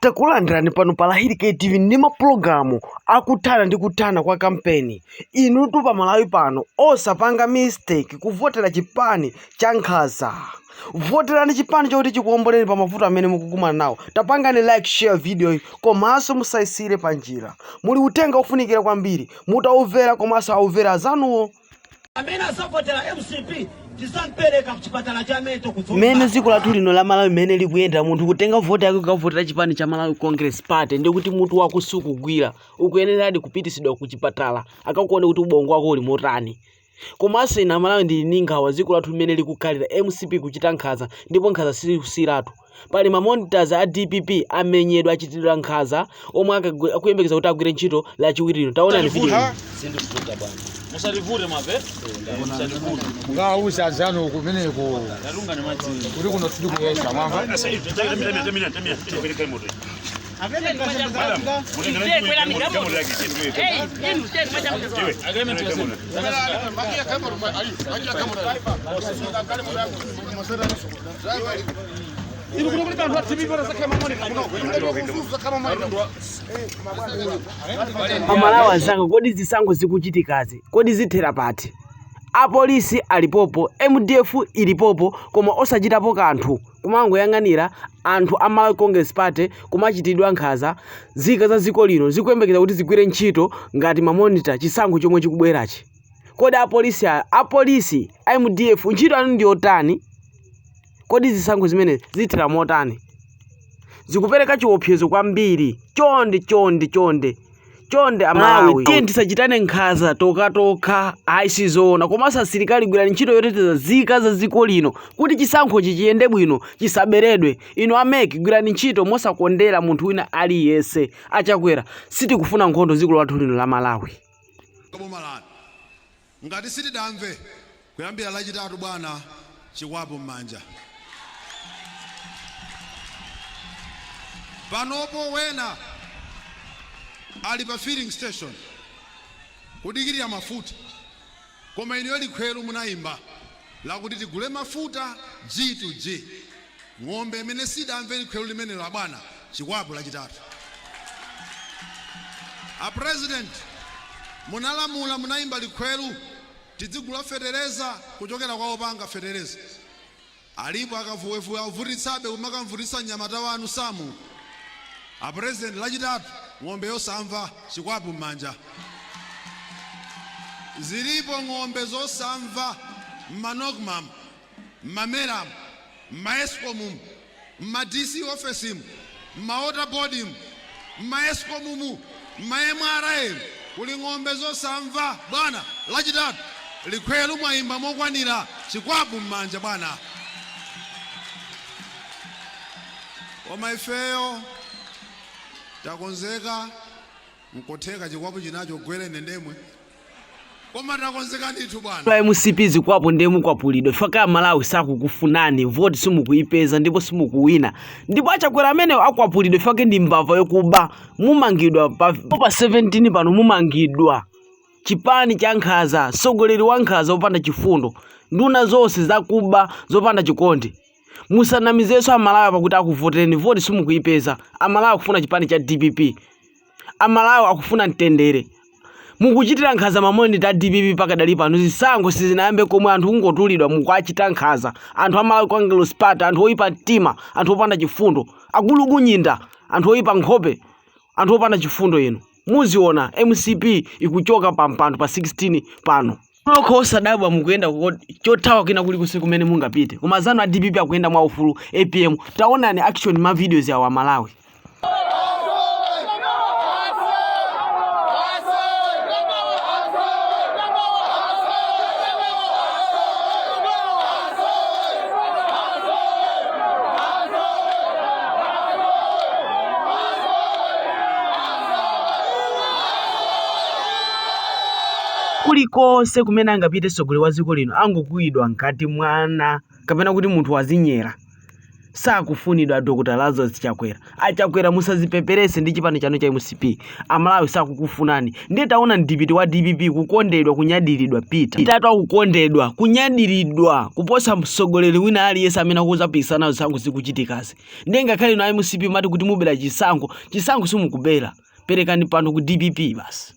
Takulandirani pano pa Hali KTV ndi mapulogalamu akuthana ndi kuthana kwa kampeni. Inutu pa Malawi pano osapanga mistake kuvotera chipani cha nkhaza. Voterani chipani choti chikuomboleni pa mavuto amene mukukumana nawo. Tapangani like, share video iyi komanso musayisiyire pa njira. Muli uthenga wakufunikira kwambiri, mutaumvera komanso aumvera azanuwo. amene azavotera mcp tizampereka kuchipatala cha mental mmene dziko lathu lino la malawi mmene likuyendera munthu kutenga voti yake kukavotera chipani cha malawi congress party ndi kuti mutu wake sukugwira akuyeneradi kupitisidwa ku chipatala akamuone kuti ubongo wake uli motani komanso ine amalawi ndili ndi nkhawa dziko lathu mmene likukhalira mcp kuchita nkhaza ndipo nkhaza sikusiyiratu Pali ma monitors a dpp amenyedwa achitidwa nkhaza omwe akagwi- akuyembekeza kuti agwire ntchito lachiwiri lino. Taonani video iyi. Sindikuvuta bwana. Musativute mave. Musativute. mukawuze azanu kumeneko Yarungane madzi. kuti kuno sitikuyesa mwamva Agreement was- Inu kuno kuli bantu athibi bora sakhe mamoni kuno. Inu kuno kufuzu sakhe mamoni kuno. amalawi anzanga kodi zisankho zikuchitikazi kodi zithera pati apolisi alipopo mdf ilipopo koma osachitapo kanthu kumangoyang'anira anthu amalawi congress party kumachitira nkhaza zika za dziko lino zikuyembekeza kuti zigwire ntchito ngati mamonita chisankho chomwe chikubwerachi kodi apolisi a- apolisi ndi a mdf ntchito yanu ndi yotani kodi zisankho zimenezi zithera motani zikupereka chiopsezo kwambiri chonde chonde chonde chonde amalawi tiye tisachitane nkhaza tokhatokha ayi sizoona komanso asilikali gwirani ntchito yoteteza zika za dziko lino kuti chisankhochi chiyende bwino chisaberedwe inu a MEC gwirani ntchito mosakondera munthu wina aliyense achakwera sitikufuna nkhondo dziko lathu lino la malawi boma lanu ngati sizidamve kuyambira lachitatu bwana chikwapu m'manja panopo wena ali pa filling station kudikirira mafuta Koma inuyo likhweru munaimba lakuti tigule mafuta G to G. Ng'ombe imene sidamve likhweru limenelo abwana, chikwapu lachitatu. A president munalamula, munaimba likhweru tidzigula fetereza kuchokera kwa opanga fetereza. Alipo akavuwevuwe akuvutitsabe kumakamuvutitsa mnyamata wanu Samu? A president lachitatu ng'ombe yosamva, chikwapu mmanja. Zilipo ng'ombe zosamva mma Nocmamu, mma mera mu, mma escom mu, mma DC office mu. Mma water board mu, mma escom mu, mma mra mu muli ng'ombe zosamva bwana. Lachitatu likhweru mwayimba mokwanira. Chikwapu mmanja bwana. Koma ifeyo takonzeka. Nkutheka chikwapu china chigwere ine ndemwe. koma takonzeka ndithu bwana a mcp zikwapu ndiye mukwapulidwa chifukwa amalawi sakukufunani voti simukuipeza ndipo simukuwina ndipo achakwera amenewo akwapulidwa chifukwa ndi mbava yokuba mumangidwa pa, pa 17 pano mumangidwa chipani cha nkhaza mtsogoleri wa nkhaza wopanda chifundo nduna zonse zakuba zopanda chikondi musanamizenso amalawi pakuti akuvotereni voti simukuipeza amalawi akufuna chipani cha dpp A Malawi akufuna mtendere. Mukuchitira nkhanza ma monitor a dpp pakadali pano. Zisankho sizinayambe komwe anthu kungotumidwa mukuachita nkhanza. Anthu a Malawi Congress Party, anthu oipa mtima, anthu opanda chifundo. Agulukunyinda, anthu oipa nkhope, anthu opanda chifundo inu. Muziona mcp ikuchoka pampando pa 16 pano. nokha osadabwa mukuyenda chothawa kwina kulikonse kumene mungapite koma anzanu a dpp akuyenda mwa ufulu apm taonani action ma videos awa amalawi Kulikonse kumene angapite mtsogoleri wa dziko lino angokuwidwa ngati mwana kapena kuti munthu wazinyera. Sakufunidwa Dr. Lazarus Chakwera. A Chakwera musazipeperese ndi chipani chanu cha MCP. Amalawi sakukufunani. Ndiye taonani mtsogoleri wa DPP kukondedwa kunyadiridwa Peter Mutharika akukondedwa kunyadiridwa kuposa mtsogoleri wina aliyense amene akuzapikisana nazo zisankho zikuchitikazi. Ndiye ngakhale inu a MCP mumati kuti mubera chisankho, chisankho simukubera. Perekani pano ku DPP basi.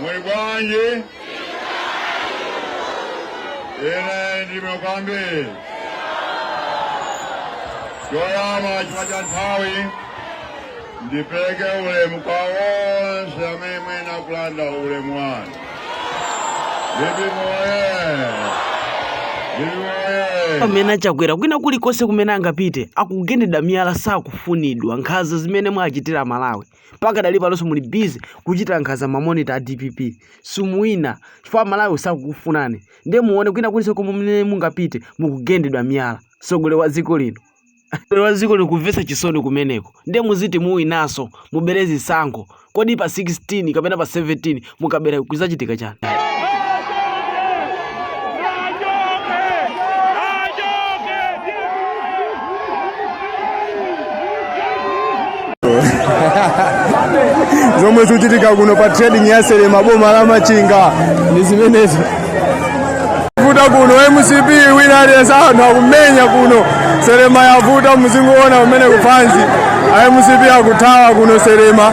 Muli bwanji? Inenso ndili bwino kwambiri. Choyamba chifukwa cha nthawi ndipeleke ulemu kwa onse amene mukuyenera kulandira ulemu wanu. DPP moye! DPP moye! pamene achakwera kwina kulikonse kumene angapite akugendedwa miyala sakufunidwa nkhanza zimene mwachitira amalawi pakadali panonso muli busy kuchita nkhanza mamonita a dpp simuwina chifukwa amalawi sakukufunani ndiye muone kwina kulikonse komwe mene mungapite mukugendedwa miyala mtsogoleri wa dziko lino mtsogoleri wa dziko lino kumvetsa chisoni kumeneko ndiye muziti muwinanso mubere zisankho kodi pa 16 kapena pa 17 mukabera kuzachitika chani zomwe zikuchitika kuno pa trading ya selema boma la machinga ndi zimenezo kwavuta kuno mcp wina aliyense anthu akumenya kuno selema yavuta muzingowona kumene kufanzi a mcp akuthawa kuno selema